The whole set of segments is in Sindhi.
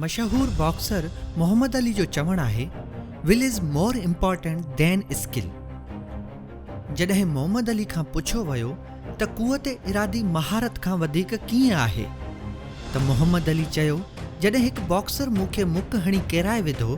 مشهور باڪسر محمد علي جو چوڻ آهي Will is more important than skill جڏهن محمد علي کان پڇيو ويو ته قوت ارادي مهارت کان وڌيڪ ڪيئن آهي ته محمد علي چيو جڏهن هڪ باڪسر مون کي مڪ هڻي ڪيرائي وڌو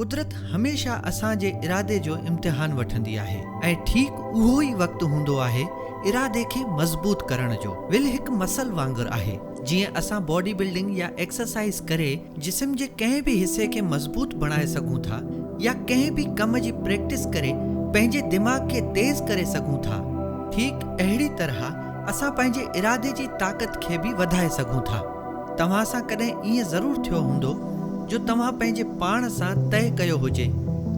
قدرت هميشه اسان جي ارادي جو امتحان وٺندي آهي ۽ ٺيڪ اهو ئي وقت هوندو آهي ارادي کي مضبوط ڪرڻ جو. ول هڪ مسل وانگر آهي. جيئن اسان باڊي بلڊنگ يا ايڪسرسائيز ڪري جسم جي ڪنهن به حصي کي مضبوط بڻائي سگهون ٿا يا ڪنهن به ڪم جي پريڪٽس ڪري پنهنجي دماغ کي تيز ڪري سگهون ٿا ٺيڪ اهڙي طرح اسان پنهنجي ارادي جي طاقت کي به وڌائي سگهون ٿا. توهان سان ڪڏهن ائين ضرور ٿيو هوندو جو توهان پنهنجي پاڻ سان طئي ڪيو هجي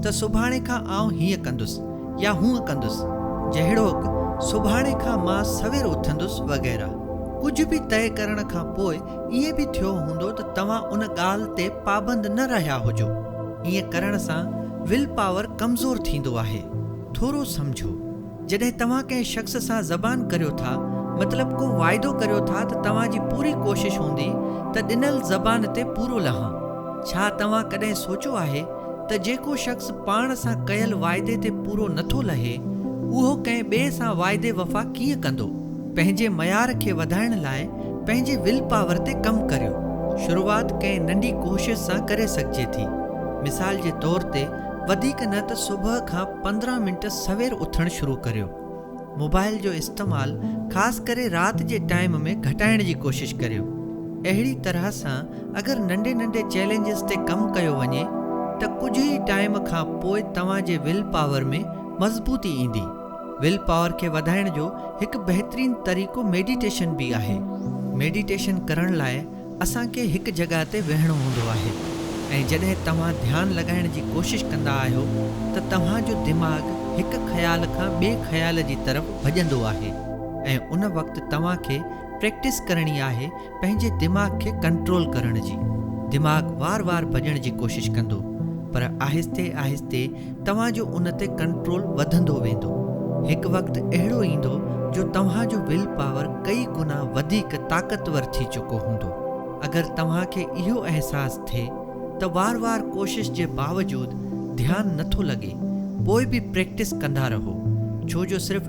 ته سڀاڻي کان آئون هيئن ڪندس يا هونئن ڪندس جهڙوڪ سڀاڻي کان مان سوير اٿندس وغيره. ڪجهه به طئي ڪرڻ کان پوء ائين به ٿيو هوندو ته توهان ان ڳالهه تي پابند نه رهيا هجو. ائين ڪرڻ سان ول پاور ڪمزور ٿيندو آهي. ٿورو سمجهو. جڏهن توهان ڪنهن شخص سان زبان ڪريو ٿا مطلب ڪو واعدو ڪريو ٿا ته توهان جي پوري ڪوشش هوندي ته ڏنل زبان تي پورو لهان. ڇا توهان ڪڏهن سوچيو آهي ته جيڪو شخص پاڻ سان ڪيل واعدي تي پورو نٿو لهي اهو ڪنهن ٻئي سان واعدي وفا ڪيئن ڪندو؟ پنهنجي معيار کي وڌائڻ لاء پنهنجي ول پاور تي ڪم ڪريو. شروعات ڪنهن ننڍي ڪوشش سان ڪري سگهجي ٿي. مثال جي طور تي وڌيڪ نه ته صبح کان پندرهن منٽ سوير اٿڻ شروع ڪريو. موبائل جو استعمال خاص ڪري رات جي ٽائيم ۾ گهٽائڻ جي ڪوشش ڪريو. اهڙي طرح سان اگر ننڍي ننڍي چئلينجز تي ڪم ڪيو وڃي ته ڪجهه ئي ٽائيم کان پوء توهان جي ول پاور ۾ مضبوطي ايندي. ول پاور کي وڌائڻ جو هڪ بهترين طريقو ميڊيٽيشن به آهي. ميڊيٽيشن ڪرڻ لاء اسان کي هڪ جڳهه تي ويهڻو هوندو آهي ۽ جڏهن توهان ڌيان لڳائڻ جي ڪوشش ڪندا آهيو ته توهان جو دماغ هڪ خيال کان ٻئي خيال جي طرف ڀڄندو آهي ۽ ان وقت توهان کي پريڪٽس ڪرڻي آهي پنهنجي دماغ کي ڪنٽرول ڪرڻ جي دماغ وار وار ڀڄڻ جي ڪوشش ڪندو پر آهستي آهستي توهان جو ان تي ڪنٽرول وڌندو ويندو. هڪ وقت اهڙو ايندو جو توهان جو ول پاور ڪئي گنا وڌيڪ طاقتور ٿي چڪو هوندو. اگر توهان کي اهو احساس ٿئي ته وار وار ڪوشش جي باوجود ڌيان نٿو لڳي پوء به پريڪٽس ڪندا رهو ڇو جو صرف